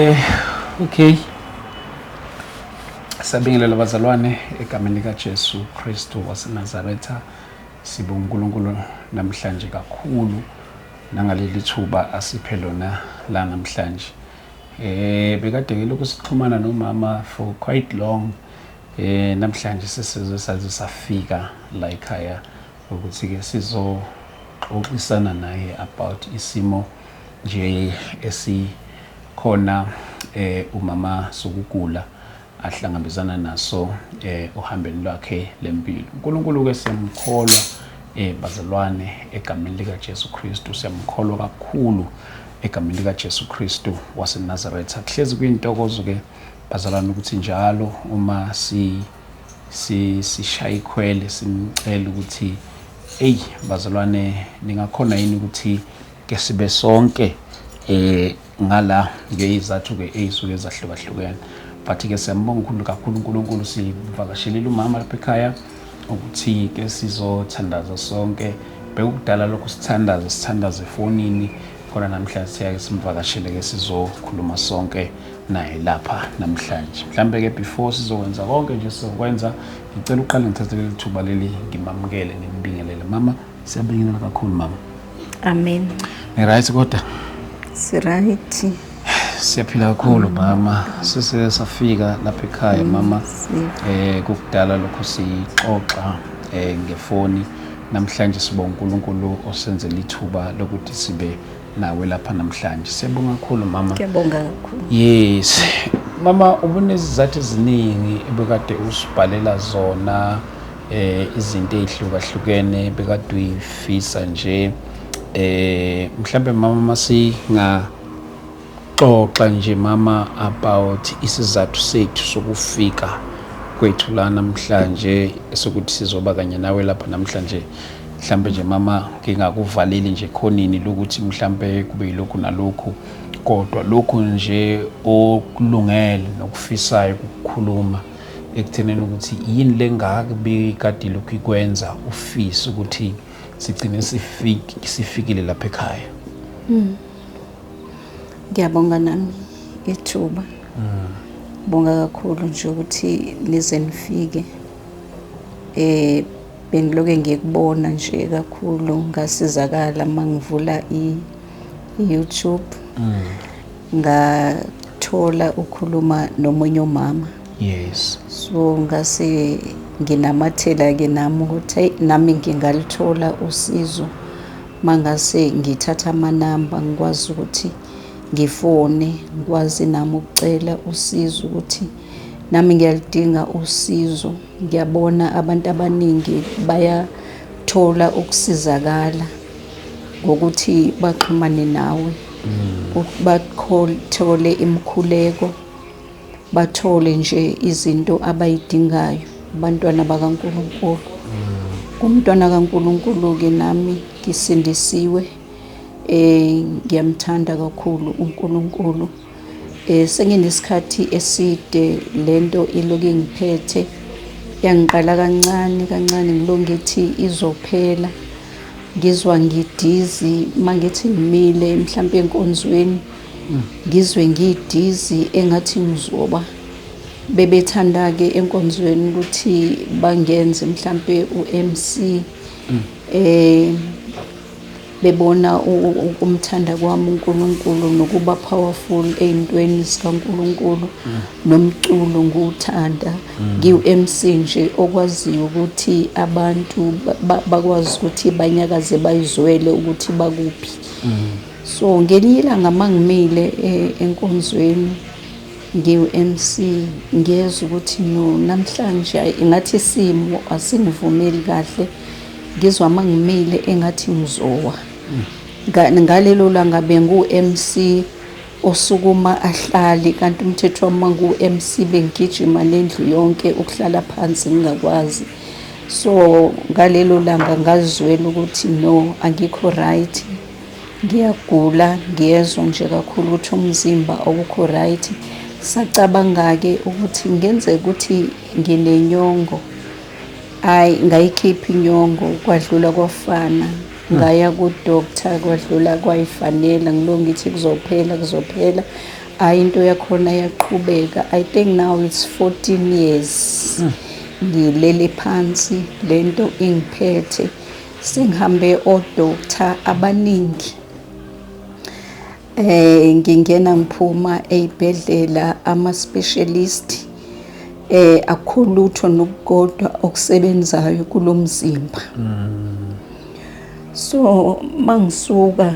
Eh, okay sabingelela bazalwane egameni likajesu kristu wasenazaretha sibonga unkulunkulu namhlanje kakhulu nangaleli thuba asiphe lona la namhlanje eh bekade ngelokhu sixhumana nomama for quite long eh namhlanje sesize saze safika la ekhaya ukuthi ke sizoxoxisana naye about isimo nje esikhona umama sukugula ahlangabezana naso ohambeni lwakhe lempilo. UNkulunkulu-ke siyamkholwa bazalwane egameni likaJesu Kristu, siyamkholwa kakhulu egameni likaJesu Kristu waseNazaretha. Kuhlezi kuyintokozo-ke bazalwane ukuthi njalo uma si sishaya ikhwele simcela ukuthi eyi bazalwane ningakhona yini ukuthi ke sibe sonke eh ngala ngeyizathu ke eyisuke ezahlukahlukene but ke siyambonga ukhulu kakhulu uNkulunkulu sivakashelile umama lapha ekhaya ukuthi ke sizothandaza sonke bekukudala lokhu sithandaze sithandaze efonini khona namhlanje siyake simvakashele ke sizokhuluma sonke naye lapha namhlanje mhlambe ke before sizokwenza konke nje sizokwenza ngicela uqale ngithathe leli thuba leli ngimamukele ngimbingelele mama Siyabingelela kakhulu mama. Amen. Ni right kodwa? Si right. Siyaphila kakhulu mama. Sise safika lapha ekhaya mama. Eh kukudala lokho sixoxa eh ngefoni. Namhlanje sibonga uNkulunkulu osenzele ithuba lokuthi sibe nawe lapha namhlanje. Siyabonga kakhulu mama. Ngiyabonga kakhulu. Yes. Mama ubunezizathu eziningi ebekade usibhalela zona eh izinto ezihlukahlukene bekaduyifisa nje eh mhlambe mama masinga xoxa nje mama about isizathu sethu sokufika kwethu la namhlanje sokuthi sizoba kanye nawe lapha namhlanje mhlambe nje mama ngingakuvaleli nje khonini lokuthi mhlambe kube yilokhu nalokhu kodwa lokhu nje okulungele nokufisayo ukukhuluma ekutheneni ukuthi yini lengaka bikade ilokhu ikwenza ufise ukuthi sigcine sifikile lapha ekhaya hmm. ngiyabonga nami ithuba hmm. bonga kakhulu nje ukuthi nize nifike eh bengiloke ngikubona nje kakhulu ngasizakala mangivula i YouTube mm. ngathola ukhuluma nomunye umama yes so ngase nginamathela ke nami ukuthi nami ngingalithola usizo mangase ngithatha amanamba ngikwazi ukuthi ngifone ngikwazi nami ukucela usizo ukuthi nami ngiyalidinga usizo Ngiyabona abantu abaningi bayathola ukusizakala ngokuthi baxhumane nawe mm. bathole imikhuleko bathole nje izinto abayidingayo abantwana bakaNkulunkulu mm. umntwana kaNkulunkulu ke nami ngisindisiwe eh ngiyamthanda kakhulu uNkulunkulu Eh, senginesikhathi eside le nto iloku ingiphethe yangiqala kancane kancane ngilo ngithi izophela ngizwa ngidizi uma ngithi ngimile mhlawumpe enkonzweni ngizwe ngidizi engathi ngizoba bebethanda-ke enkonzweni ukuthi bangenze mhlawumpe u-m c um bebona ukumthanda kwami uNkulunkulu nokuba powerful ey'ntweni zikaNkulunkulu mm. nomculo ngiwuthanda mm. ngiwu-MC nje okwaziyo ukuthi abantu bakwazi ukuthi banyakaze bayizwele ukuthi bakuphi mm. so ngelinye ilanga uma ngimile e, enkonzweni ngiwu-MC ngiyezwa ukuthi no namhlanje ngathi isimo asingivumeli kahle Ngizwa uma ngimile engathi ngizowa. Ngalelo langa bengu-MC osukuma ahlale kanti umthetho wami uma ngu-MC bengigijima nendlu yonke ukuhlala phansi ngingakwazi. So ngalelo langa ngazizwela ukuthi no angikho right, ngiyagula ngiyezwa nje kakhulu ukuthi umzimba awukho right. Sacabanga-ke ukuthi kungenzeka ukuthi nginenyongo. Ay ngayikhipha inyongo kwadlula kwafana ngaya ku doctor kwadlula kwayifanela ngilo ngithi kuzophela kuzophela ay into yakhona yaqhubeka i think now it's 14 years hmm. ngilele phansi lento ingiphethe sengihambe o doctor abaningi Eh ngingena ngiphuma eyibhedlela ama specialist eh akhulutho nokukodwa okusebenzayo kulomzimba. Mm. So mangisuka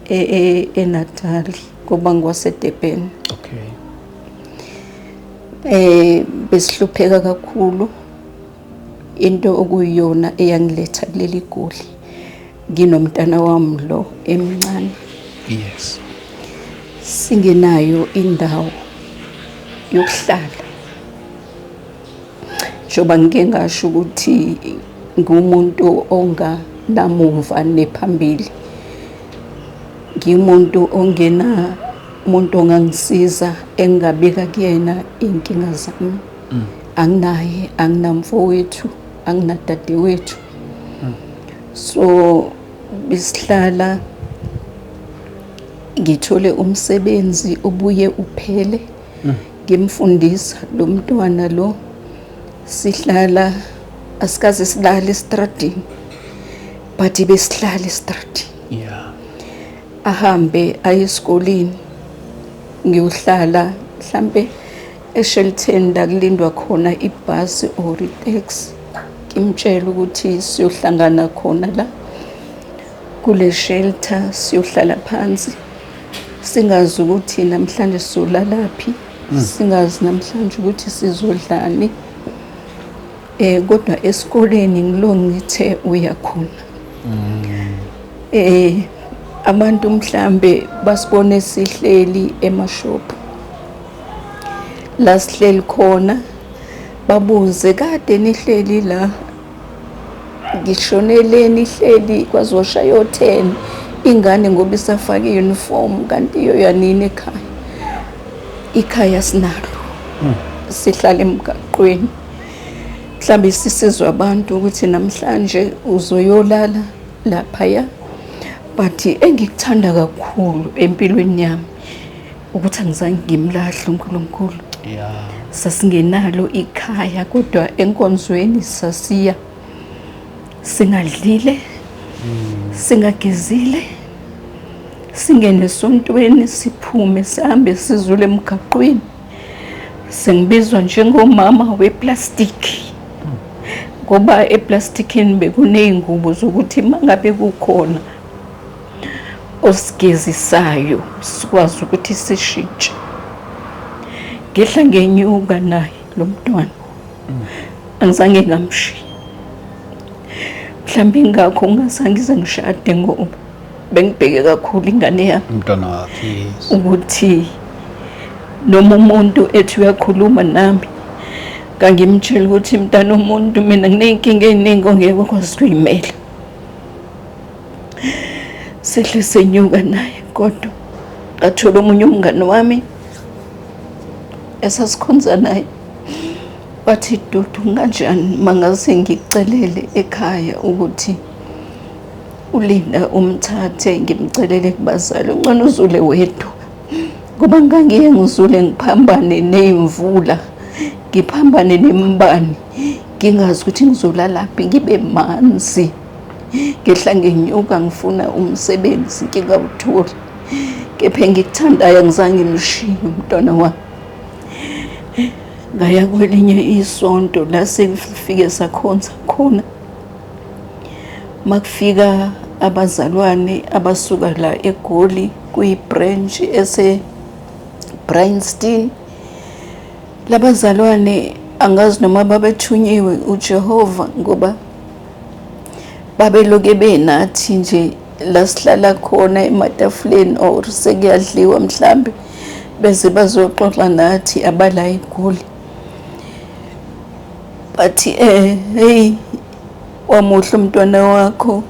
e, e, eNatal ngoba ngwaseDurban. Okay. Eh besihlupheka kakhulu into okuyiyona eyangiletha kuleli goli nginomntana wami lo emncane yes singenayo indawo yokuhlala njengoba ngike ngasho ukuthi ngumuntu onganamumva nephambili ngimuntu ongena umuntu ongangisiza engingabika kuyena iy'nkinga zami mm. anginaye anginamfowethu anginadadewethu mm. so besihlala ngithole umsebenzi ubuye uphele mm. ngimfundisa lo mntwana lo sihlala asikaze silale estradini but besihlala estradini yeah ahambe aye esikoleni ngiyohlala mhlambe eShelton la kulindwa khona ibhasi or itaxi ngimtshela ukuthi siyohlangana khona la kule shelter siyohlala phansi singazi ukuthi namhlanje sizolalaphi hmm. singazi namhlanje ukuthi sizodlani eh kodwa esikoleni ngilo ngithe uyakhona hmm. eh abantu mhlambe basibone sihleli emashophu la sihleli khona babuze kade nihleli la ngishonele nihleli kwazosha yo 10 ingane ngoba isafake uniform kanti iyo yanini ekhaya ikhaya sinalo hmm. sihlala emgaqweni mhlawumbe sisizwa abantu ukuthi namhlanje uzoyolala laphaya but engikuthanda kakhulu empilweni yami ukuthi angizange ngimlahle uNkulunkulu yeah. sasingenalo ikhaya kodwa enkonzweni sasiya singadlile mm. singagezile singene esontweni siphume sihambe sizule emgaqweni sengibizwa njengomama weplastiki ngoba eplastikini bekuney'ngubo zokuthi uma ngabe kukhona osigezisayo sikwazi ukuthi sishintshe ngehla ngenyuka naye lo mntwana angizange ngamshiya mhlawumbe ingakho ungazange ize ngishade ngoba bengibheke kakhulu ingane yami umntwana wakhe ukuthi noma umuntu ethi uyakhuluma nami ngangimtshela ukuthi mntana umuntu mina nginey'nkinga ey'ningi ongeke ukwazi ukuyimela sehle senyuka naye kodwa ngathola omunye umngane wami esasikhonza naye wathi dudu nganjani mangase ngikucelele ekhaya ukuthi ulinda umthathe ngimcelele kubazali uncane uzule wedwa ngoba ngangiye ngizule ngiphambane ney'mvula ngiphambane nembani ngingazi ukuthi ngizolalaphi ngibe manzi ngehla ngenyuka ngifuna umsebenzi ngingawutholi kepha engikuthandayo angizange ngimshiye umntwana wami ngaya kwelinye isonto la sengifike sakhonza khona makufika abazalwane abasuka la egoli kuyi-branch ese-brainston labazalwane angazi noma babethunyiwe ujehova ngoba babeloke benathi nje la sihlala khona ematafuleni or sekuyadliwa mhlambe bese bazoxoxa nathi abala igoli bathi eh hey wamuhle umntwana wakho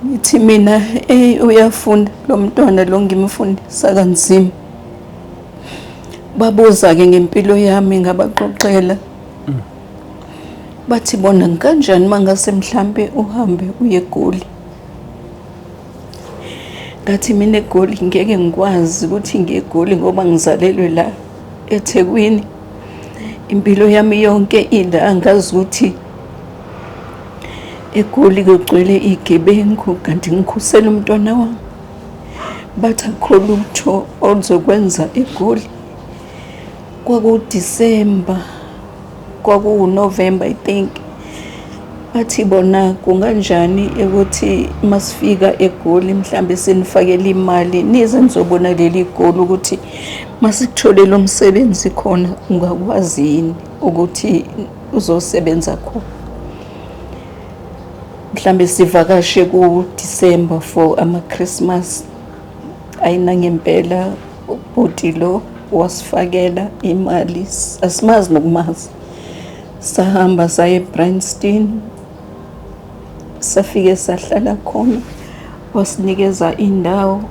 ngithi mina hey uyafunda lo mntwana lo ngimfundisa kanzima babuza-ke ngempilo yami ngabaxoxela bathi bona kanjani mangase mhlampe uhambe uye egoli ngathi mina egoli ngeke ngikwazi ukuthi ngiye egoli ngoba ngizalelwe la ethekwini impilo yami yonke ila angazi ukuthi egoli kugcwele igebengu kanti ngikhusela umntwana wami bathi akho lutho oluzokwenza egoli kwakudisemba kwakuwunovemba i think bathi bona kunganjani ukuthi masifika egoli mhlambe sinifakele imali nize nizobona leli goli ukuthi masikutholele umsebenzi khona ungakwazi yini ukuthi uzosebenza khona mhlambe sivakashe ku-december for ama-christmas ayinangempela Ubhuti lo wasifakela imali asimazi nokumazi sahamba saye eBrandstein safike sahlala khona wasinikeza indawo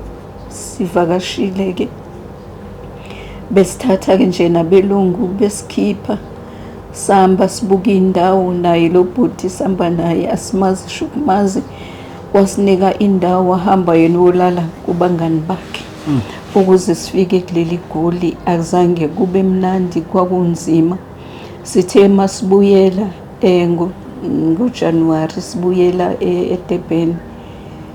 sivakashile ke besithatha ke nje nabelungu besikhipha samba sibuka indawo naye lo bhuti samba naye asimazi shukumazi wasinika indawo wahamba yena wolala kubangani bakhe Mm. Ukuze sifike kuleli goli akuzange kube mnandi kwakunzima. Sithe masibuyela eh ngoJanuary sibuyela eh, eDurban.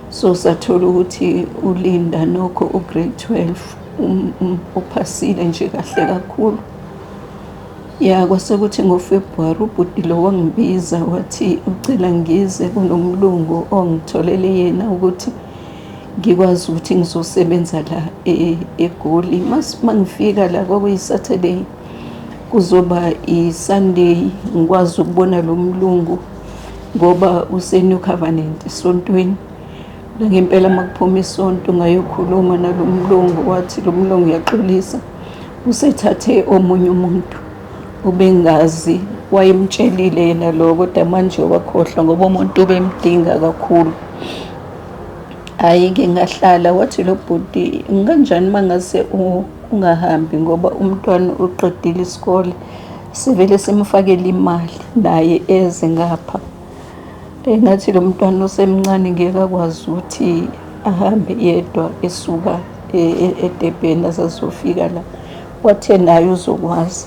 So sathola ukuthi uLinda nokho ugrade 12 um, um, uphasile nje kahle kakhulu. Ya kwase kuthi ngoFebruary ubhuti lo wangibiza wathi ucela ngize kunomlungu ongitholele yena ukuthi ngikwazi ukuthi ngizosebenza la e, egoli uma ngifika la kwakuyi-saturday kuzoba i-sunday ngikwazi ukubona lo mlungu ngoba usenew covenant esontweni ngempela uma kuphuma isonto ngayokhuluma nalo mlungu wathi lo mlungu uyaxolisa usethathe omunye umuntu ubengazi wayemtshelile yena lo kodwa manje wakhohlwa ngoba umuntu ubemdinga kakhulu Hhayi ke ngahlala wathi lo bhuti kanjani uma ngase ungahambi ngoba umntwana uqedile isikole sivele simfakele imali naye eze ngapha engathi lo mntwana osemncane ngeke akwazi ukuthi ahambe yedwa esuka e, e, edebheni azazofika la Wathe naye uzokwazi.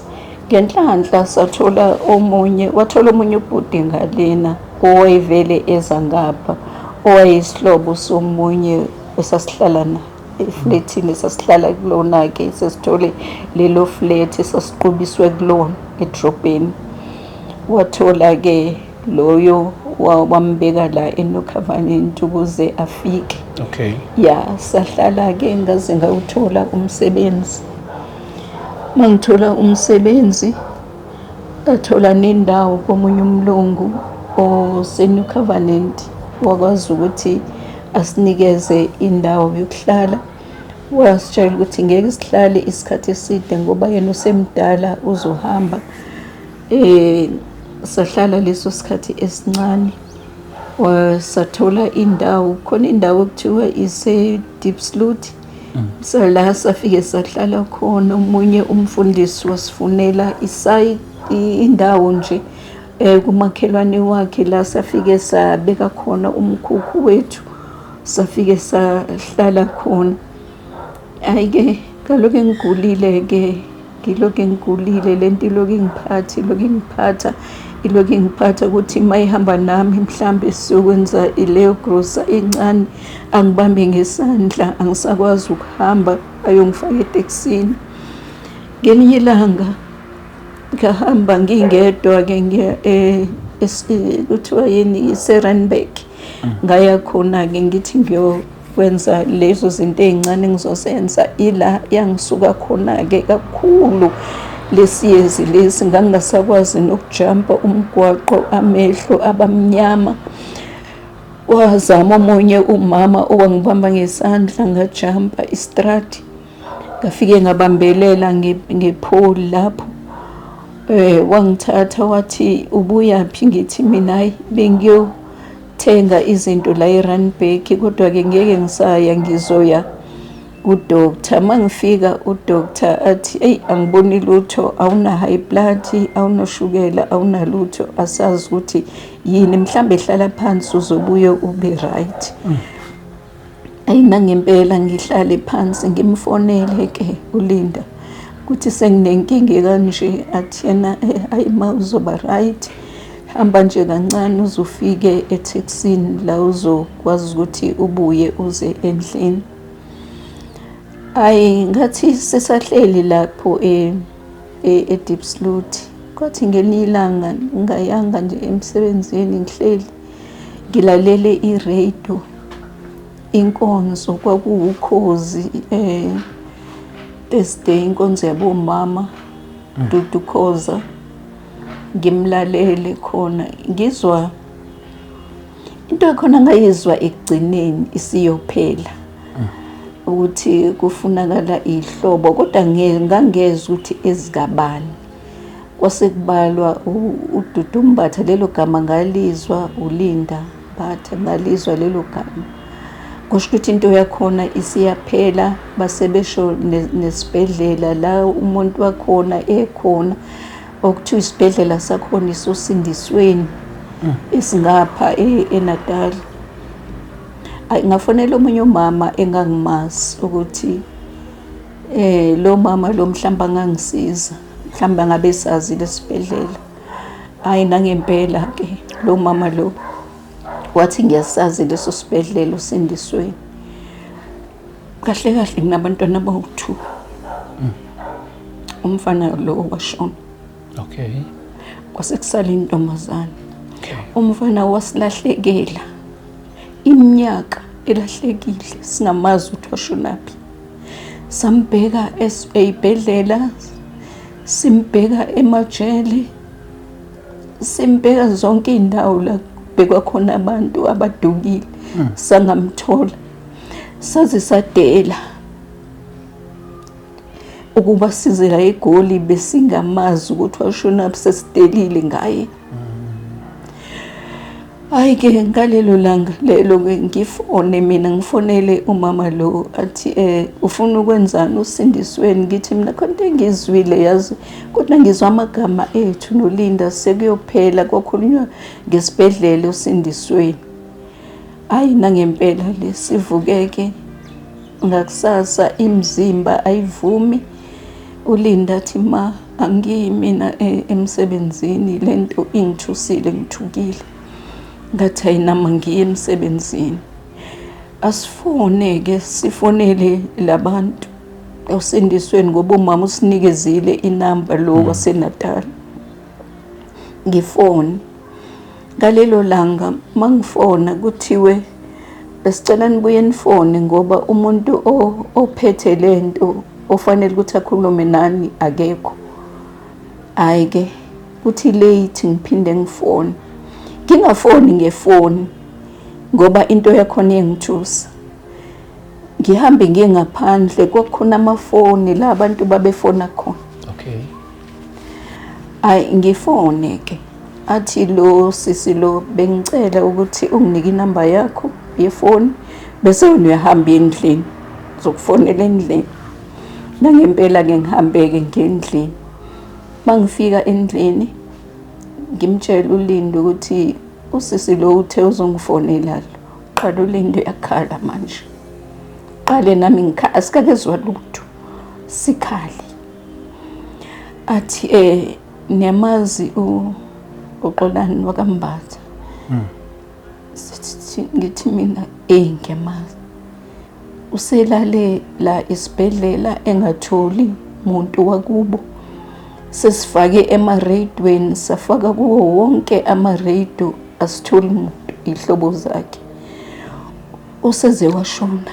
Ngenhlanhla sathola omunye, wathola omunye ubhuti ngalena owayevele eza ngapha, owayeyisihlobo somunye esasihlala naye eflethini esasihlala kulona-ke sesithole lelo flethi esasiqubiswe kulona edrobheni. Wathola-ke loyo wambeka la enocovenant ukuze afike okay ya sahlala-ke ngaze ngawuthola umsebenzi uma ngithola umsebenzi ngathola nendawo komunye umlungu osenew covenant wakwazi ukuthi asinikeze indawo yokuhlala wasitshela ukuthi ngeke sihlale isikhathi eside ngoba yena usemdala uzohamba Eh sahlala leso sikhathi esincane wasathola indawo khona indawo okuthiwa ise deep slot mm. sala safike sahlala khona umunye umfundisi wasifunela isayi indawo nje eh kumakhelwane wakhe la safike sabeka khona umkhukhu wethu safike sahlala khona Hayi-ke kaloku engigulile-ke ngilokhu ngigulile le nto ilokhu ingiphatha ilokhu ingiphatha ilokhu ingiphatha ukuthi uma ihamba nami mhlawumbe siyokwenza ileyo grosa incane angibambe ngesandla angisakwazi ukuhamba ayongifaka etekisini ngelinye ilanga ngahamba ngingedwa-ke ngiya eh, eh, kuthiwa yini iserenberg mm. ngaya khona-ke ngithi ngiyo kwenza lezo zinto ey'ncane engizozenza ila yangisuka khona-ke kakhulu lesiyezi lesi ngangingasakwazi nokujampa umgwaqo amehlo abamnyama wazama omunye umama owangibamba ngesandla ngajampa istrati ngafike ngabambelela ngepholi lapho um wangithatha wathi ubuyaphi ngithi mina ayi bengiyo thenga izinto la eRandburg kodwa-ke ngeke ngisaya ngizoya kudoctor uma ngifika udoctor athi eyi angiboni lutho awuna-high blood awunoshukela awunalutho asazi ukuthi yini mhlawumbe hlala phansi uzobuye ube right mm. Ayi nangempela ngihlale phansi ngimfonele ke uLinda ukuthi senginenkinga ekanje athi yena eh, ayi ma uzoba right hamba nje kancane uzofike ethekisini la uzokwazi ukuthi ubuye uze endlini ayi ngathi sisahleli lapho eh, eh, e-deep sloot kwathi ngelinye ilanga ngingayanga nje emsebenzini ngihleli ngilalele ireyido inkonzo kwakuwukhozi um thursday inkonzo yabomama mm. dudukhoza ngimlalele khona ngizwa into ekhona ngayizwa ekugcineni isiyophela mm. ukuthi kufunakala ihlobo kodwa ngangezwa ukuthi ezikabani Kwasekubalwa uDudu Mbatha, lelo gama ngalizwa, uLinda Mbatha ngalizwa lelo gama. Kusho ukuthi into yakhona isiyaphela, basebesho nesibhedlela la umuntu wakhona ekhona okuthiwa isibhedlela sakhona isosindisweni mm. esingapha e-, eNatal. Ngafonela omunye umama engangimazi ukuthi eh lo mama lo mhlamba ngangisiza. mhlawumbe angabe esazile esibhedlela hhayi nangempela-ke lo mama lo wathi ngiyasazi leso sibhedlela usindisweni kahle kahle nginabantwana abawu-two mm. umfana lo washona okay kwase kusala intombazane umfana wasilahlekela iminyaka elahlekile singamazwi ukuthi washonaphi sambheka esibhedlela simbheka emajele simbheka zonke iy'ndawo la kubhekwa khona abantu abadukile hmm. sangamthola saze sadela ukuba size la egoli besingamazi ukuthi washona sesidelile ngaye Hayi ke ngalelo langa lelo ke ngifone mina ngifonele umama lo athi eh ufuna ukwenzani usindisweni ngithi mina khonto engizwile yazi kodwa ngizwa amagama ethu nolinda sekuyophela kokhulunywa ngesibhedlela usindisweni hayi nangempela le sivukeke ngakusasa imizimba ayivumi ulinda athi ma Angiyi mina e, emsebenzini le nto ingithusile ngithukile ngathi hayi nama ngiye emsebenzini asifone-ke sifonele labantu osindisweni ngoba umama usinikezile inamba lo hmm. waseNatal ngifone Ngalelo langa mangifona kuthiwe besicela nibuye nifone ngoba umuntu ophethe le nto ofanele ukuthi akhulume nani akekho. Hhayi-ke kuthi late ngiphinde ngifone, ngingafoni ngefoni ngoba into yakhona iyangithusa. Ngihambe ngiye ngaphandle kwakukhona amafoni la abantu babefona khona. Ayi ngifone ke athi lo sisi lo bengicela ukuthi unginike inamba yakho yefoni bese wena uyahamba endlini zokufonela endlini nangempela-ke ngihambeke ngendlini mangifika endlini ngimtshela ulinde ukuthi usisi lo uthe uzongifonela lo qala ulinde uyakhala manje qale nami ngikhala sikakezwa lutho Sikhali. Athi eh niyamazi u uxolani wakambatha. Mm. Sithi ngithi mina eh ngiyamazi. Uselale la isibhedlela engatholi muntu wakubo. Sesifake ema radioweni safaka kuwo wonke ama radio asitholi muntu ihlobo zakhe. Useze washona.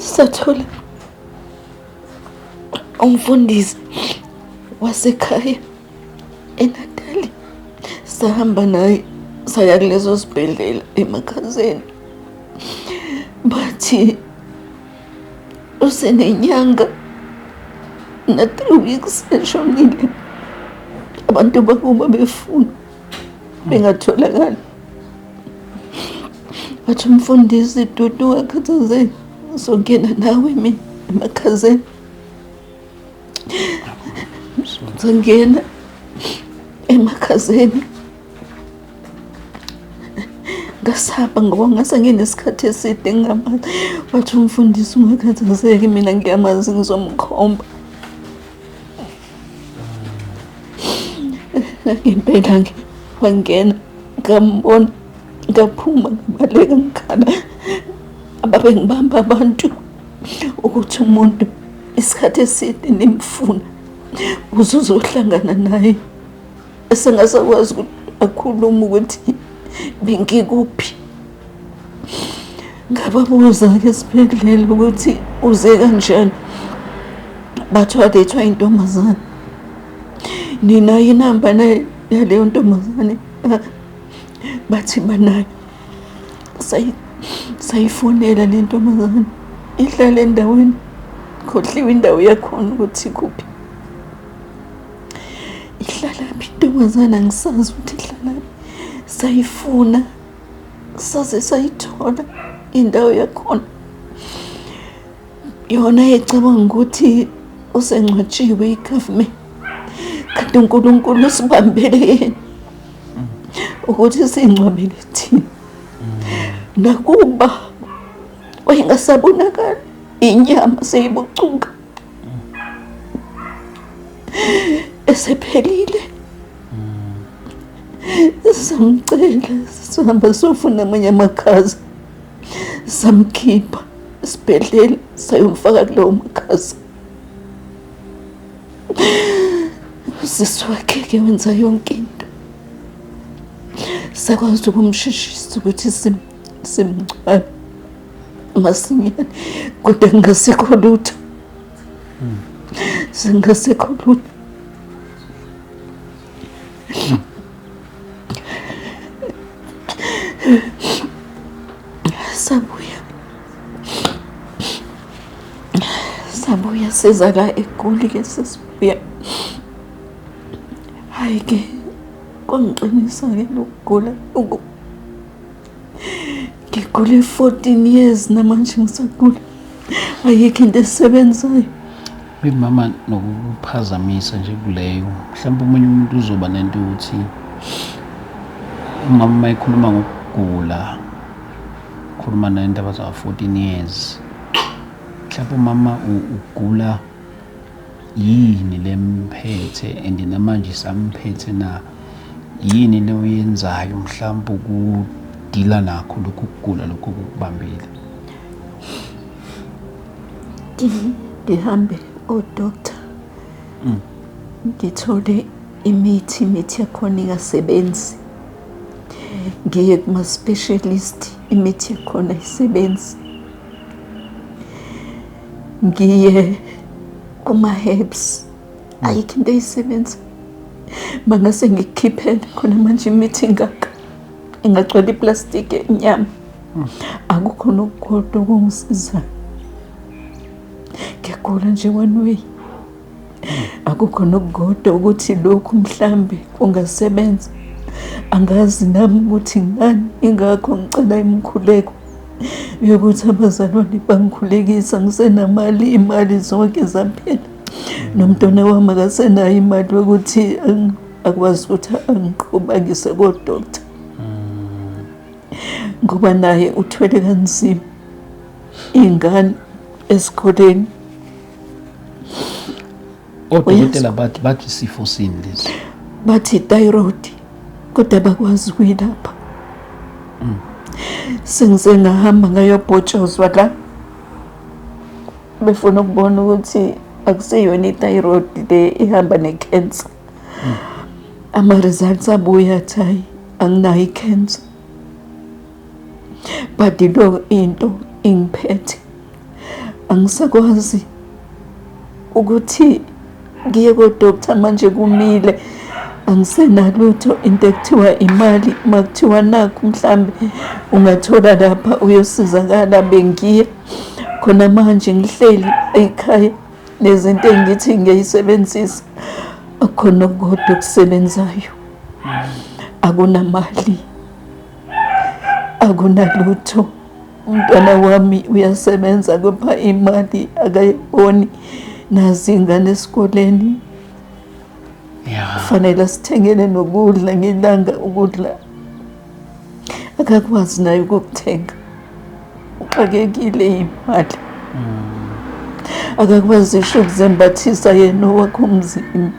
sathola umfundisi wasekhaya enatali sahamba naye saya kuleso sibhedlela emakhazeni bathi usenenyanga na-three weeks eshonile abantu bakuba befuna bengatholakali wathi umfundisi dudu wakhathazeni uzongena nawe mina emakhazeni uzongena emakhazeni ngasaba ngoba ngase nginesikhathi eside ngingamazi wathi umfundisi ungakhathazeki mina ngiyamazi ngizomkhomba ngempela ke wangena ngambona ngaphuma ngabaleka ngikhala ababengibamba abantu ukuthi umuntu isikhathi eside nimfuna uze uzohlangana naye esengasakwazi ukuthi akhulume ukuthi bengikuphi ngababuza-ke esibhedlela ukuthi uze kanjani bathiwa lethwa intombazane ninayo inamba yaleyo ntombazane bathi banayo sayifonela le ntombazane ihlale endaweni khohliwe indawo yakhona ukuthi kuphi ihlalaphi intombazane angisazi ukuthi ihlalaphi sayifuna saze sayithola indawo yakhona yona ecabanga ukuthi usengcwatshiwe igovernment kanti unkulunkulu usibambele yena ukuthi singcwabele thina nakuba wayengasabonakali inyama seyibucuka esephelile samcela sihamba sofuna amanye amakhaza samkhipha esibhedlela sayomfaka kulowo makhaza usisi wakhe ke wenza yonke into sakwazi ukumshishisa ukuthi simncwabe masinyane kodwa kungasekho lutho singasekho lutho sabuya sabuya siza la egoli ke sesibuya hhayi ke kwangixinisa-ke lokugula ngigule 14 years namanje ngisagula ayikho into esebenzayo maybe mama nokuphazamisa nje kuleyo mhlawumbe omunye umuntu uzoba nento yokuthi umama uma ekhuluma ngokugula ukhuluma naye indaba zawo-14 years mhlawumbe umama ugula Yini lemphethe and namanje isamphethe na? Yini le oyenzayo mhlawumbe ukudila nakho lokhu kugula lokhu okukubambile? Ngi- Ngihambe odoktar ngithole imithi imithi yakhona ingasebenzi ngiye kuma-specialist imithi yakhona ayisebenzi ngiye kuma-herbs ayikho into eyisebenza bangase ngikukhiphele khona manje imithi ngaka ingagcwala iplastiki enyama akukho nokukodwa okungisizayo ngiyagula nje one way akukho nokugoda ukuthi lokhu mhlambe kungasebenza angazi nami ukuthi ngani ingakho ngicela imikhuleko yokuthi abazalwane bangikhulekisa ngisenamali imali zonke zaphela nomntwana wami akasenayo imali yokuthi akwazi ukuthi angiqhubangise kodokta ngoba naye uthwele kanzima iy'ngane esikoleni odokotela bathi bathi isifo sini lesi bathi thyroid kodwa bakwazi kuyilapha mm. sengize ngahamba ngayobhotshozwa la befuna ukubona ukuthi akuseyona i-thyroid le ihamba ne-cancer mm. ama-results abuye athi hayi anginayo i-cancer but lo into ingiphethe angisakwazi ukuthi ngiye kodoctor manje kumile angisenalutho into ekuthiwa imali uma kuthiwa nakho mhlambe ungathola lapha uyosizakala bengiya khona manje ngihleli ekhaya nezinto engithi ngiyayisebenzisa akhona kodwa okusebenzayo akunamali akunalutho umntwana wami uyasebenza kupha imali akayiboni nazi ingane esikoleni kufanele sithengele nokudla ngelanga ukudla akakwazi naye ukukuthenga uxakekile imali mm. akakwazi isho ukuzembathisa yena owakho umzimba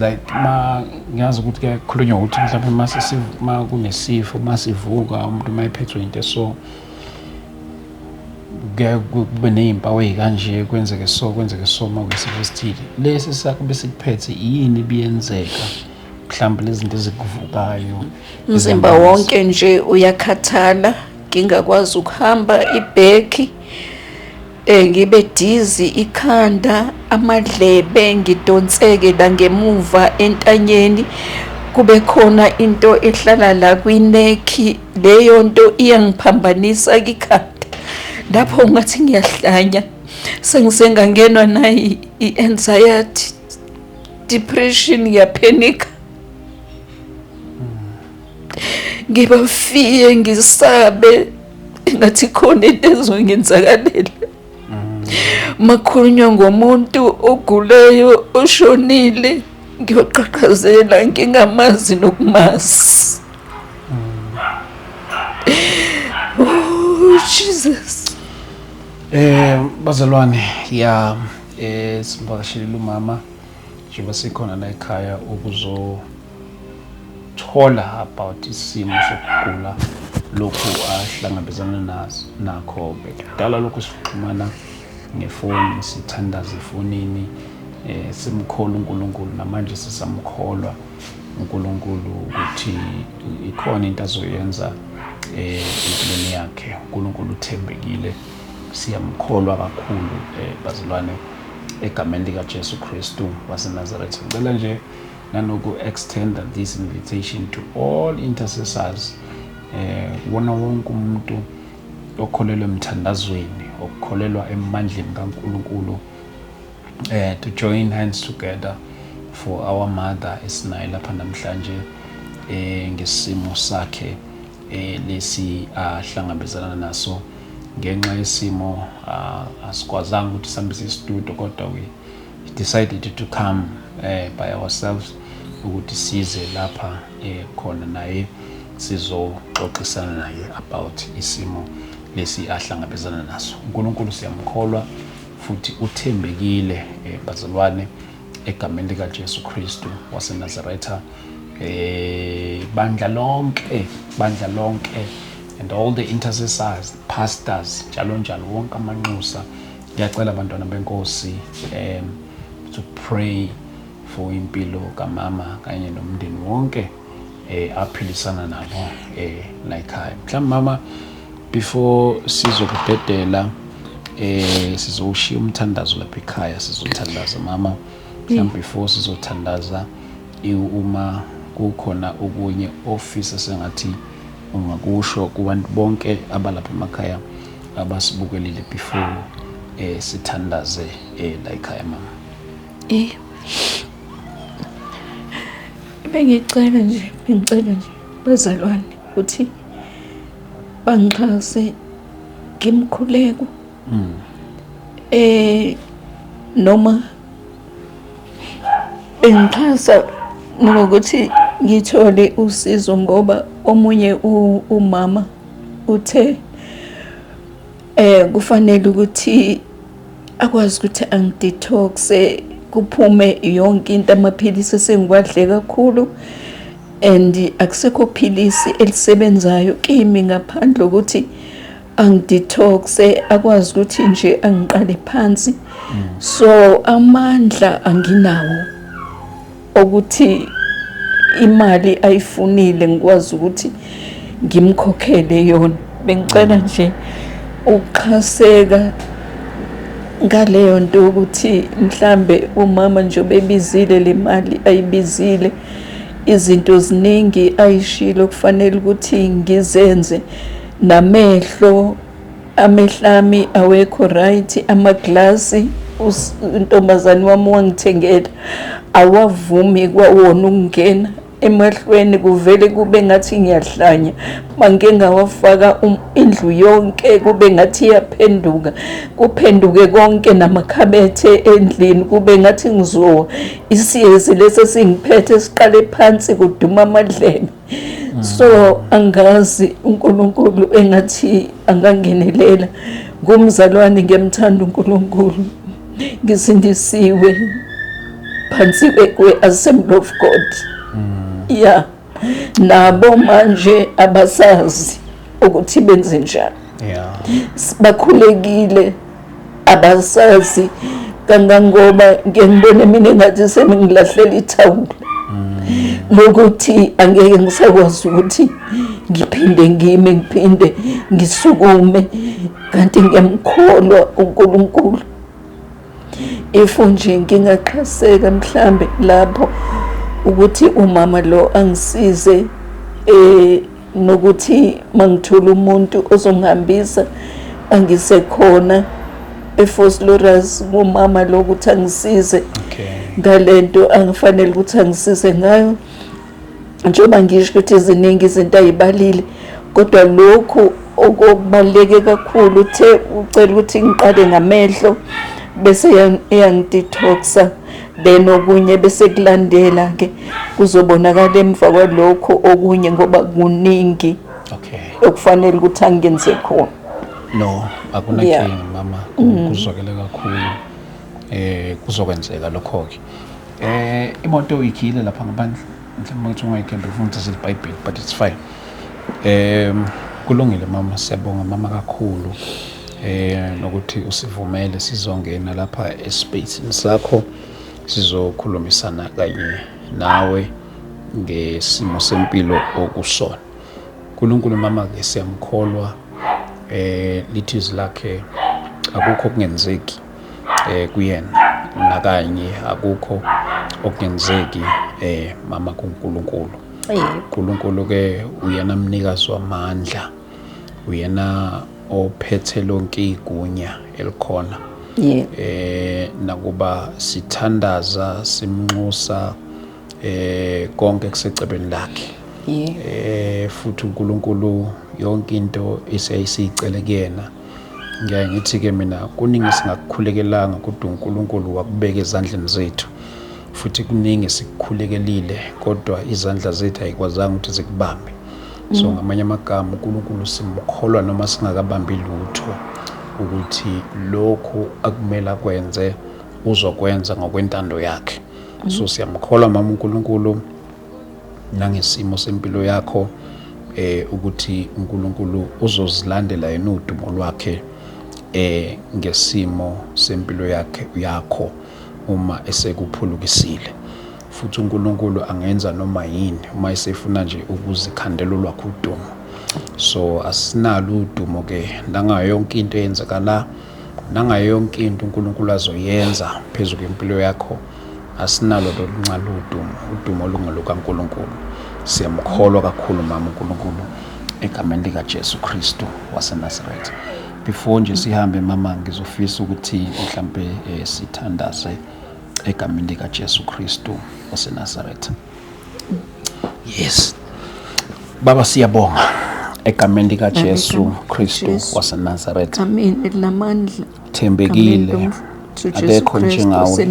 like ma ngiyazi ukuthi kuyakhulunywa ukuthi mhlawumbe uma uma kunesifo uma sivuka umuntu uma ephethwe into so kube ney'mpawu ey'kanje kwenzeke so kwenzeke so uma kuyisifo esithile lesi sakho besikuphethe yini biyenzeka mhlawumbe lezinto ezikuvukayo umzimba wonke nje uyakhathala ngingakwazi ukuhamba ibhekhi Eh, ngibe dizi ikhanda amadlebe ngidonseke la ngemuva entanyeni kube khona into ehlala la kwinekhi leyo nto iyangiphambanisa kikhanda lapho ngathi ngiyahlanya sengisengangenwa nayi i-anxiety depression ngiyaphenika ngibafiye ngisabe engathi khona into ezongenzakalela makhulunywa ngomuntu oguleyo oshonile ngiyoqhaqhazela ngingamazi nokumazi oh jesus eh bazalwane ya eh simvakashelile umama njengoba sikhona la ekhaya ukuzo thola about isimo sokugula lokhu ahlangabezana naso nakho ke kudala lokhu sixhumana ngefoni sithandaza efonini eh simkhola uNkulunkulu namanje sisamkholwa uNkulunkulu ukuthi ikhona into azoyenza eh empilweni yakhe uNkulunkulu uthembekile siyamkholwa kakhulu eh bazalwane egameni lika Jesu Kristu waseNazaretha ngicela nje nanoku extender this invitation to all intercessors eh wona wonke umuntu okholelwa emthandazweni okukholelwa emandleni kaNkuluNkulu eh to join hands together for our mother esinayo lapha namhlanje eh ngesimo sakhe eh lesi ahlangabezana naso ngenxa yesimo asikwazanga ukuthi sihambise istudio kodwa we He decided to come eh, by ourselves ukuthi size lapha eh, khona naye sizoxoxisana naye about isimo lesi ahlangabezana naso. UNkulunkulu siyamkholwa futhi uthembekile eh, bazalwane egameni likaJesu Kristu waseNazaretha eh bandla lonke bandla lonke and all the intercessors pastors njalo njalo wonke amanxusa Ngiyacela bantwana benkosi um to pray for impilo kamama kanye nomndeni wonke eh aphilisana nabo eh la ekhaya mhlawumbe mama before sizokubhedela eh sizowushiya umthandazo lapha ekhaya sizothandaza mama mhlawumbe before sizothandaza uma kukhona okunye ofisa sengathi ungakusho kubantu bonke abalapha emakhaya abasibukelile before eh sithandaze eh la ekhaya mama eh bengicela nje ngicela nje bazalwane ukuthi bangixhase ngimkhuleko mm. eh noma bengixhasa ngokuthi ngithole usizo ngoba omunye umama Uthe eh kufanele ukuthi akwazi ukuthi angidetoxe kuphume yonke into amaphilisi esengiwadle kakhulu and akusekho philisi elisebenzayo kimi ngaphandle ukuthi angidetoxe akwazi ukuthi nje angiqale phansi so amandla anginawo okuthi imali ayifunile ngikwazi ukuthi ngimkhokhele yona bengicela nje ukuxhaseka ngaleyo nto yokuthi mhlambe umama nje obebizile le mali ayibizile izinto ziningi ayishilo kufanele ukuthi ngizenze namehlo amehlami awekho right amaglasi untombazane wami wangithengela awavumi kwawona ukungena emahlweni kuvele kube ngathi ngiyahlanya mangike ngawafaka um, indlu yonke kube ngathi iyaphenduka kuphenduke konke namakhabethe endlini kube ngathi ngizowa isiyezi lesi esingiphethe siqale phansi kuduma amadlebe so angazi uNkulunkulu engathi angangenelela ngomzalwane ngiyamthanda uNkulunkulu ngisindisiwe phansi kwe assembly of God mm. yeah nabo manje abasazi ukuthi benze njani yeah bakhulekile abasazi kangangoba ngike ngibone mina engathi semingilahlela ithawula lokuthi angeke ngisakwazi ukuthi ngiphinde ngime ngiphinde ngisukume kanti ngiyamkholwa uNkulunkulu if nje ngingaqhaseka mhlambe lapho ukuthi umama lo angisize eh nokuthi mangithola umuntu ozongihambisa angisekhona eFoslorus ngomama lokuthi angisize ngalento angifanele ukuthi angisize ngayo njengoba ngisho ukuthi ziningi izinto ayibalile kodwa lokhu okubaluleke kakhulu uthe ucela ukuthi ngiqale ngamehlo bese iyangidetoxa then okunye bese kulandela ke kuzobonakala emva kwalokho okunye ngoba kuningi okay okufanele ukuthi angenze khona no akunakinga yeah. mama mm. kuzwakele kakhulu eh kuzokwenzeka lokho ke eh imoto uyikhile lapha ngaphandle mhlawumbe ukuthi ungayikhendi ufuna ukuthi silibhayibheli but it's fine um kulungile mama siyabonga mama kakhulu eh nokuthi usivumele sizongena lapha espacini sakho sizokhulumisana kanye nawe ngesimo sempilo okusona uNkulunkulu mama ke siyamkholwa eh lithi izilakhe akukho kungenzeki eh kuyena nakanye akukho okungenzeki eh mama kuNkulunkulu uNkulunkulu ke uyena mnikazi wamandla uyena ophethe lonke igunya elikhona eh nakuba sithandaza simnxusa eh konke kusecebeni lakhe eh futhi uNkulunkulu yonke into iseyisicele kuyena ngiyaye ngithi-ke mina kuningi singakukhulekelanga kodwa unkulunkulu wakubeka ezandleni zethu futhi kuningi sikukhulekelile kodwa izandla zethu ayikwazanga ukuthi zikubambe so mm. ngamanye amagama unkulunkulu simkholwa noma singakabambi lutho ukuthi lokhu akumele akwenze uzokwenza ngokwentando yakhe mm. so siyamkholwa mama unkulunkulu nangesimo sempilo yakho eh ukuthi uNkulunkulu uzozilandela yena udumo lwakhe eh ngesimo sempilo yakhe yakho uma esekuphulukisile futhi uNkulunkulu angenza noma yini uma esefuna nje ukuzikhandela olwakho udumo so asinalo udumo ke nangayo yonke into eyenzeka la nangayo yonke into uNkulunkulu azoyenza phezu kwempilo yakho asinalo loluncane udumo udumo olungelukaNkulunkulu siyamkholwa kakhulu mama uNkulunkulu egameni likaJesu Kristu waseNazaretha before nje sihambe mama ngizofisa ukuthi mhlampe eh, sithandaze egameni likaJesu Kristu waseNazaretha Yes. Baba siyabonga egameni lika Jesu Kristu waseNazareth. Amen. Elamandla. Thembekile. Akekho njengawe.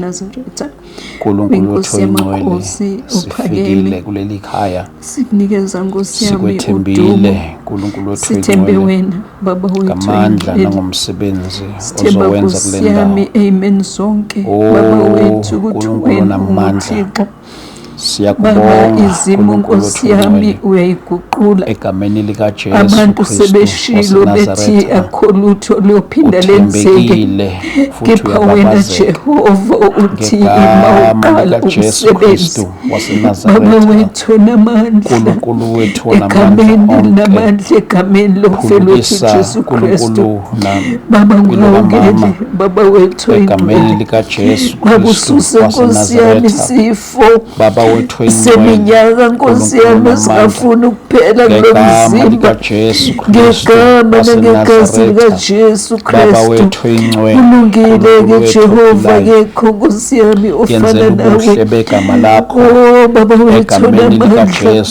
Nkulunkulu wethu oyingcwele sifikile kuleli khaya sikunikeza Nkosi yami sikwethembile Nkulunkulu wethu sithembe wena baba wethu ngamandla nangomsebenzi ozowenza kule ndawo amen sonke oh, baba wethu ukuthi wena namandla Baba izimo nkosi yami uyayiguqula egameni likaJesu abantu sebeshilo bethi akho lutho luyophinda lenzeke kepha wena Jehova uthi ima uqala umsebenzi baba wethu namandla egameni namandla egameni lomfelwethu Jesu Kristu baba ngilungele baba wethu egameni likaJesu bakususe nkosi yami isifo baba wethu seminyaka nkosi yami singafuni ukuphela kulo mzimba ngegama nangegazi likaJesu Kristu kulungile-ke Jehova kekho nkosi yami ofana nawe o oh, baba wethu namandla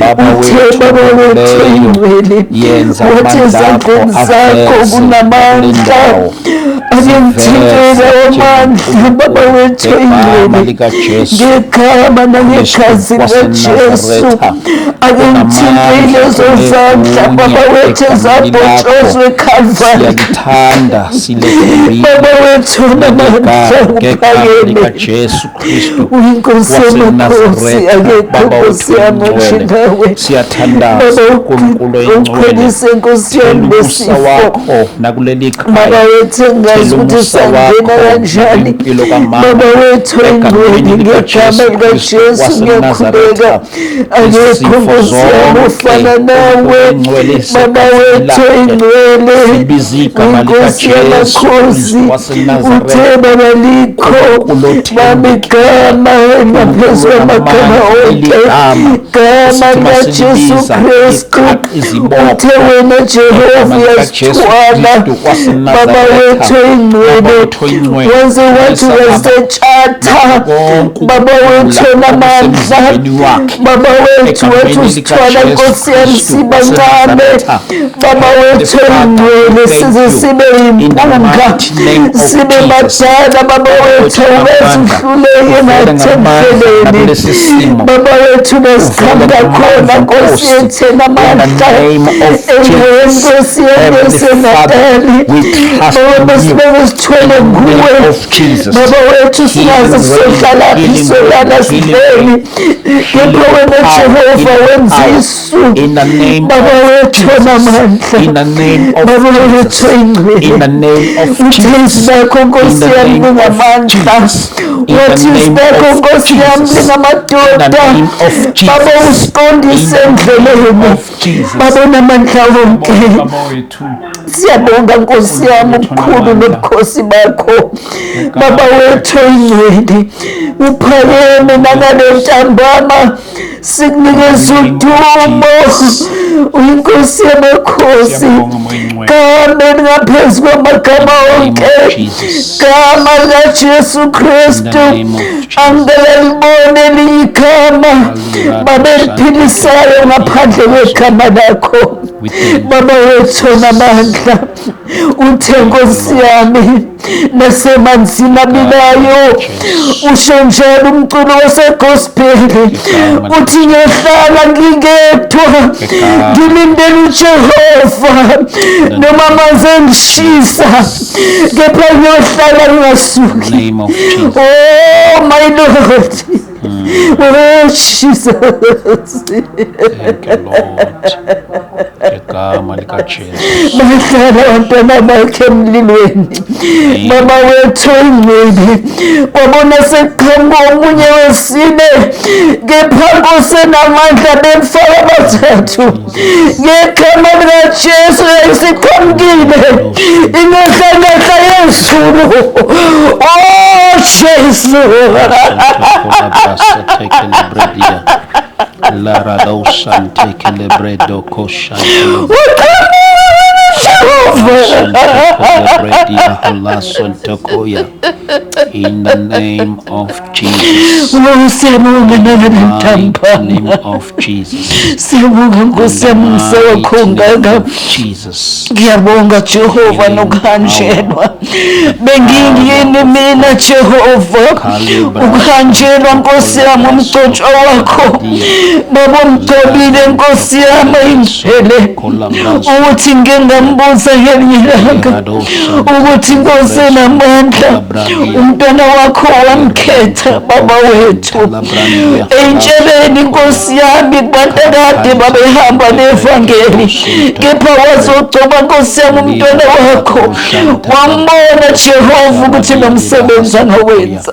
Baba wethu olungileyo, yenza amandla akho aveze kulendawo angimthintele amandla baba wethu ingcwele ngegama nangegazi likajesu angimthintele ezozandla baba wethu ezabhotshozwe ekhalvari baba wethu namandla kuphakeme Kristu uyinkosi yamakhosi akekho nkosi yami onjingawe siyathandaza uNkulunkulu oyingcwelise nkosi yami lesifa wakho nakuleli khaya baba wethu engazi ukuthi sangena kanjani baba wethu oyingcwele ngegama likaJesu ngiyakhuleka angekho nkosi yami ofana nawe baba wethu ingcwele inkosi yamakhosi uthe baba likho bami gama engaphezu kwamagama onke gama likajesu kristu uthe wena jehova uyasithwala baba wethu ingcwele wenze wathi wase Thatha baba wethu onamandla, baba wethu wethu sithwala Nkosi yami sibancane, baba wethu engcwele size sibe yimpunga, sibe badala, baba wethu awubezihluleke nathempeleni, baba wethu besikhanda khona Nkosi yethu enamandla, engcwele Nkosi yami esenatali, baba besibeke sithwele nguwe Jesus. Baba wethu singazi sizohlalaphi solana sidleni kepha wena Jehova wenza isu Baba wethu onamandla Baba wethu ingcwele uthezi bakho nkosi yami ningamandla wathezi bakho nkosi yami ningamadoda Baba usiqondise endleleni Baba onamandla wonke Siyabonga Nkosi yami ukukhulu nobukhosi bakho Baba wethu oyingcwele uphakeme nangale ntambama sikunikeza udumo uyinkosi yamakhosi gama elingaphezu kwamagama onke gama likajesu kristu angelalibone elinye igama babeliphilisayo ngaphandle kwegama lakho Baba wethu onamandla uthe nkosi yami nasemanzini abilayo usho njalo umculo wasegospel uthi ngiyohlala ngingedwa ngilindele ujehova noma amanzi engishisa kepha ngiyohlala ngingasuki oh my lord Mm. Oh, Jesus. Thank you, Lord. Ngegama likaJesu. Bahlala abantwana bakhe emlilweni. Mama wethu ingcwele. Kwabona sekuqhamuka omunye wesine. Kepha Nkosi enamandla bemfaka abathathu. ngegama likajesu isiqhamukile inehlanehla yezulu o oh, jesu In the name of Jesus. Oh, siyabonga nalabantambana. Name of Jesus. Siyabonga Nkosi yami ngisawakhombeka. Jesus. Ngiyabonga Jehova nokuhanjelwa. Bengingiyini mina Jehova. Ukuhanjelwa Nkosi yami umgcotshwa wakho. Baba umgcobile Nkosi yami imphelele. ukuthi ngike ngambuza ngelinye ilanga ukuthi nkosi enamandla umntwana wakho wamkhetha baba wethu eyintsheleni inkosi yami kubantu akade babehamba nevangeli kepha wazogcoba nkosi yami umntwana wakho wambona jehova ukuthi nomsebenzi anowenza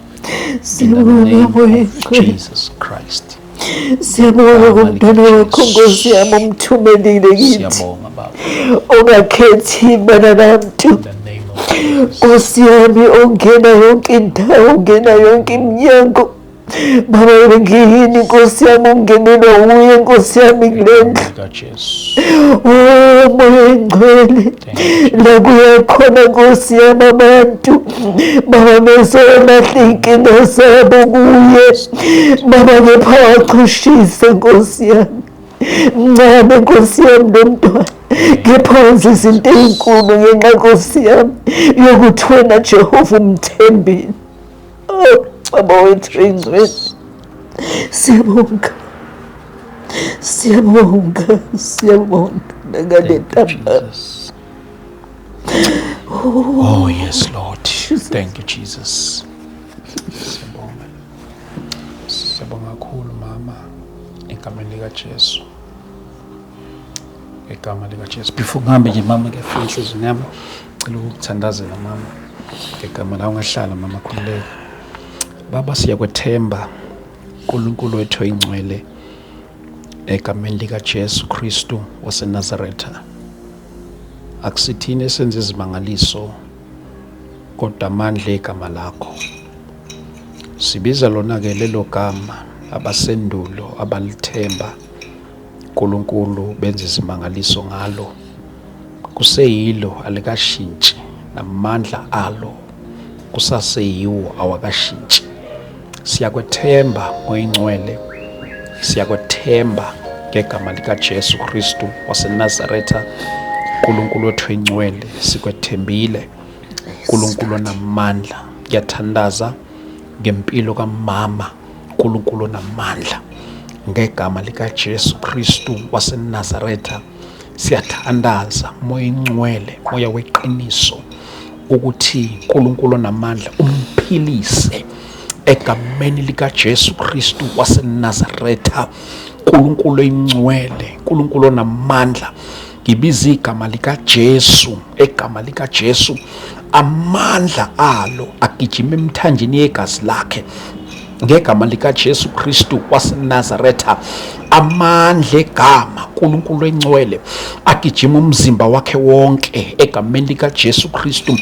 Jesus Christ. Siyabonga ngomntwana wakho Nkosi yami omthumelile kithi. Ongakhethi bana bantu. Nkosi yami ongena yonke indawo, ongena yonke iminyango. Baba ngiyini Nkosi yami ungenelwa wuye Nkosi yami kulendlu. Oh moya engcwele la kuyakhona nkosi yami abantu baba bezolahle iy'nkinga zabo kuye baba kepha wachushise nkosi yami mncane nkosi yami lo mntwana kepha wenza izinto ey'nkulu ngenxa nkosi yami yokuthi wena jehova umthembile Oh, baba wethu ingcwele. Siyabonga. Siyabonga, siyabonga ngale ntambama. Oh, yes, Lord. Thank you, Jesus. Siyabonga. Siyabonga kakhulu mama egameni likaJesu. ngegama likaJesu before ngihambe nje mama ngiyafuna inhliziyweni yami cela ukuthandazela mama ngegama la ungahlala mama khululeka baba siyakwethemba uNkulunkulu wethu oyingcwele egameni likaJesu Kristu waseNazaretha akusithini esenza izimangaliso kodwa amandla egama lakho sibiza lona ke lelo gama abasendulo abalithemba uNkulunkulu benza izimangaliso ngalo, kuseyilo alikashintshi namandla alo kusaseyiwo awakashintshi. Siyakwethemba ngoyingcwele, siyakwethemba ngegama likaJesu Kristu waseNazaretha. uNkulunkulu wethu oyingcwele, sikwethembile. uNkulunkulu onamandla, ngiyathandaza ngempilo kamama. uNkulunkulu onamandla ngegama likaJesu Kristu waseNazaretha siyathandaza moya ingcwele moya weqiniso ukuthi uNkulunkulu onamandla umphilise egameni likaJesu Kristu waseNazaretha uNkulunkulu oyingcwele uNkulunkulu onamandla Ngibiza igama likaJesu, egama likaJesu amandla alo agijima emthanjeni yegazi lakhe ngegama likaJesu Kristu waseNazaretha amandla egama uNkulunkulu engcwele agijima umzimba wakhe wonke egameni likaJesu Kristu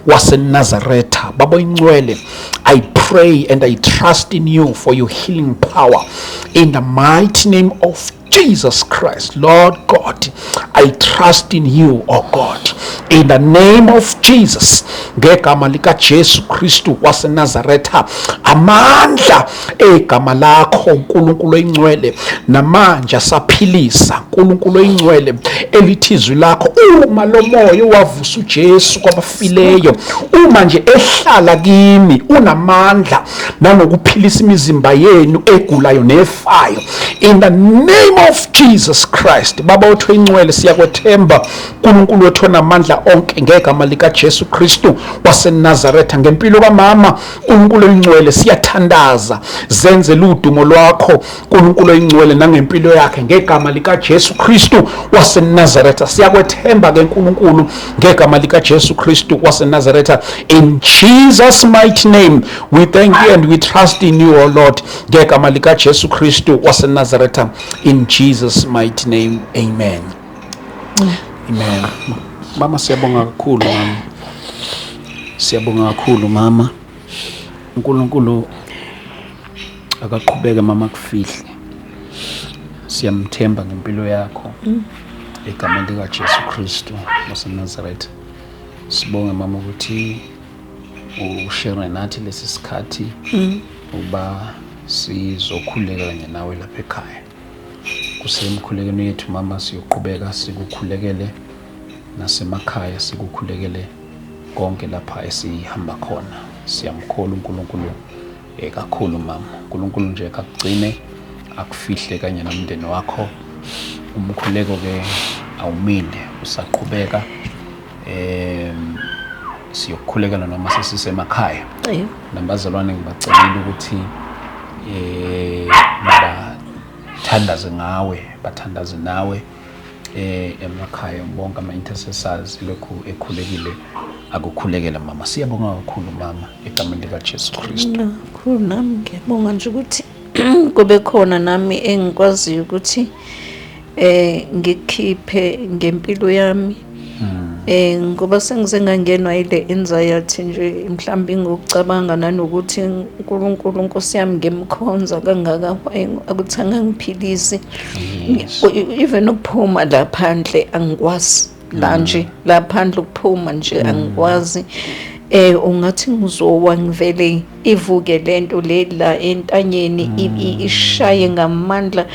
waseNazaretha baba ingcwele I pray and I trust in you for your healing power in the mighty name of Jesus Christ, Lord God, I trust in you, oh God. In the name of Jesus, ngegama lika Jesu Kristu waseNazaretha, amandla egama lakho uNkulunkulu oyingcwele namanje asaphilisa uNkulunkulu oyingcwele elithizwi lakho uma lomoya wavusa uJesu kwabafa abafileyo uma nje ehlala kimi unamandla nanokuphilisa imizimba yenu egulayo nefayo in the name of Jesus Christ baba wethu incwele siyakwethemba uNkulunkulu wethu onamandla onke ngegama lika Jesu Kristu waseNazaretha ngempilo kamama uNkulunkulu elincwele siyathandaza zenze ludumo lwakho uNkulunkulu oyingcwele nangempilo yakhe ngegama likaJesu Kristu waseNazaretha siyakwethemba ke Nkulunkulu ngegama likaJesu Kristu waseNazaretha in Jesus mighty name we thank you and we trust in you O Lord ngegama likaJesu Kristu waseNazaretha in Jesus mighty name amen amen mama siyabonga kakhulu mama siyabonga kakhulu mama uNkulunkulu akaqhubeke mama kufihle siyamthemba ngempilo yakho mm. egameni likajesu kristu wasenazaretha sibonge mama ukuthi ushere nathi lesi sikhathi mm. uba sizokhuleka kanye nawe lapha ekhaya kusemkhulekeni yethu mama siyoqhubeka sikukhulekele nasemakhaya sikukhulekele konke lapha esihamba khona siyamkhola uNkulunkulu Eh, kakhulu mama unkulunkulu nje akugcine akufihle kanye nomndeni wakho umkhuleko ke awumile usaqhubeka um siyokukhulekela noma sesisemakhaya nabazalwane ngibacelile ukuthi um bathandaze ngawe bathandaze nawe eh emakhaya bonke ama intercessors lokhu ekhulekile akukhulekela mama siyabonga kakhulu mama egameni lika Jesu Kristu kakhulu nami ngiyabonga nje ukuthi kube khona nami engikwaziyo ukuthi eh ngikhiphe ngempilo yami Hmm. Eh ngoba sengize ngangenwa ile anxiety nje mhlawumbe ngokucabanga nanokuthi uNkulunkulu Nkosi yami ngimkhonza kangaka akuthanga ngiphilise even ukuphuma la phandle angikwazi la hmm. nje la phandle ukuphuma nje hmm. angikwazi eh ungathi ngizowa ngivele ivuke lento le la entanyeni ishaye ngamandla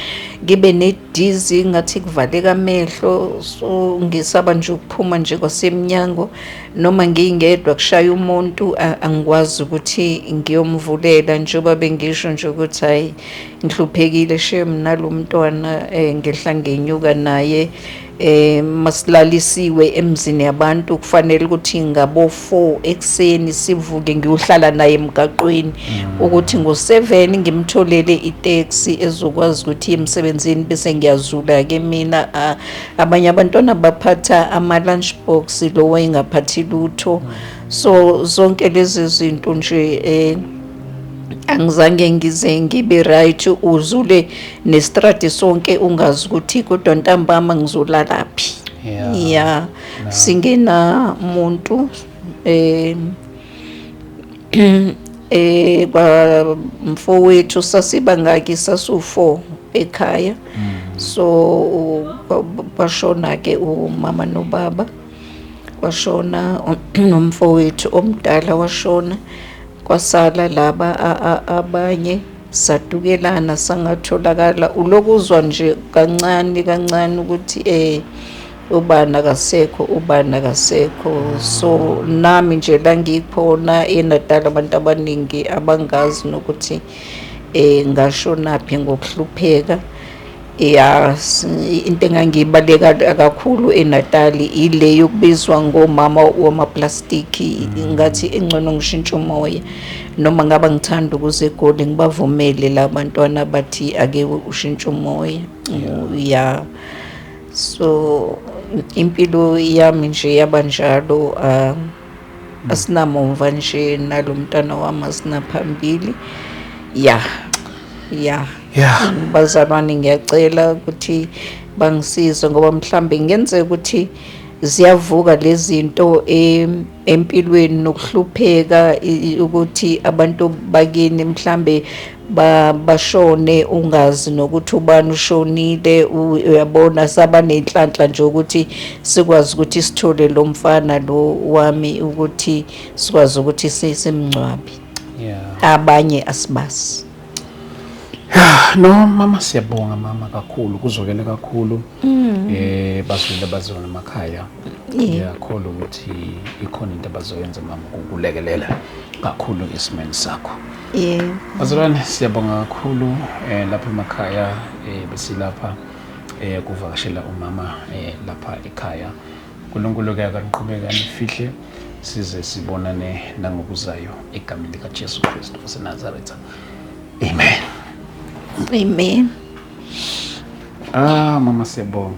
ngibe ne dizzy ngathi kuvaleka amehlo so ngisaba nje ukuphuma nje kwasemnyango noma ngingedwa kushaya umuntu angikwazi ukuthi ngiyomvulela njengoba bengisho nje ukuthi hayi ngihluphekile shem nalo mntwana um ngehla ngenyuka naye um masilalisiwe emzini yabantu kufanele ukuthi ngabo-4 4 ekuseni sivuke ngiyohlala naye emgaqweni mm. ukuthi ngo-7 ngimtholele itaxi ezokwazi ukuthi emsebenzini bese ngiyazula-ke mina abanye abantwana baphatha ama-lunch box lo wayengaphathi lutho mm. so zonke lezi zinto nje um angizange ngize ngibe right uzule nestrate sonke ungazi ukuthi kodwa ntambama ngizolalaphi yeah, yeah. singena muntu eh eh kwa mfowethu sasiba ngaki sasu4 ekhaya mm. so kwashona ke umama nobaba kwashona nomfowethu omdala washona kwasala laba abanye sadukelana sangatholakala ulokuzwa nje kancane kancane ukuthi eh ubani akasekho ubani akasekho so nami nje la ngikhona enadala abantu abaningi abangazi nokuthi um ngashonaphi ngokuhlupheka ya into engangiyibaleka kakhulu enatali ile yokubizwa ngomama wamaplastiki mm. ngathi engcono ngishintsha umoya noma ngaba ngithanda ukuze egoli ngibavumele la bantwana bathi ake ushintshe umoya ya yeah. so impilo yami nje yaba njalo um asinamumva nje nalo mntana wami asinaphambili ya ya ya bazalwane ngiyacela ukuthi bangisize ngoba mhlambe ngenzeka ukuthi ziyavuka lezinto empilweni nokuhlupheka ukuthi abantu bakini mhlambe bashone ungazi nokuthi ubani ushonile uyabona saba nenhlanhla nje ukuthi sikwazi ukuthi sithole lo mfana lo wami ukuthi sikwazi ukuthi simngcwabi abanye asibazi Yeah, no mama siyabonga mama kakhulu kuzwakele kakhulu mm. eh bazwile bazona emakhaya ngiyakholwa ukuthi ikhona into abazoyenza mama ukulekelela kakhulu ngesimeni sakho yeah bazalwane siyabonga kakhulu eh lapha emakhaya eh besilapha eh kuvakashela umama eh lapha ekhaya Nkulunkulu ke akaniqhubeke anifihle size sibonane nangokuzayo egameni likaJesu Kristu waseNazaretha. Amen. Amen. Ah mama siyabonga.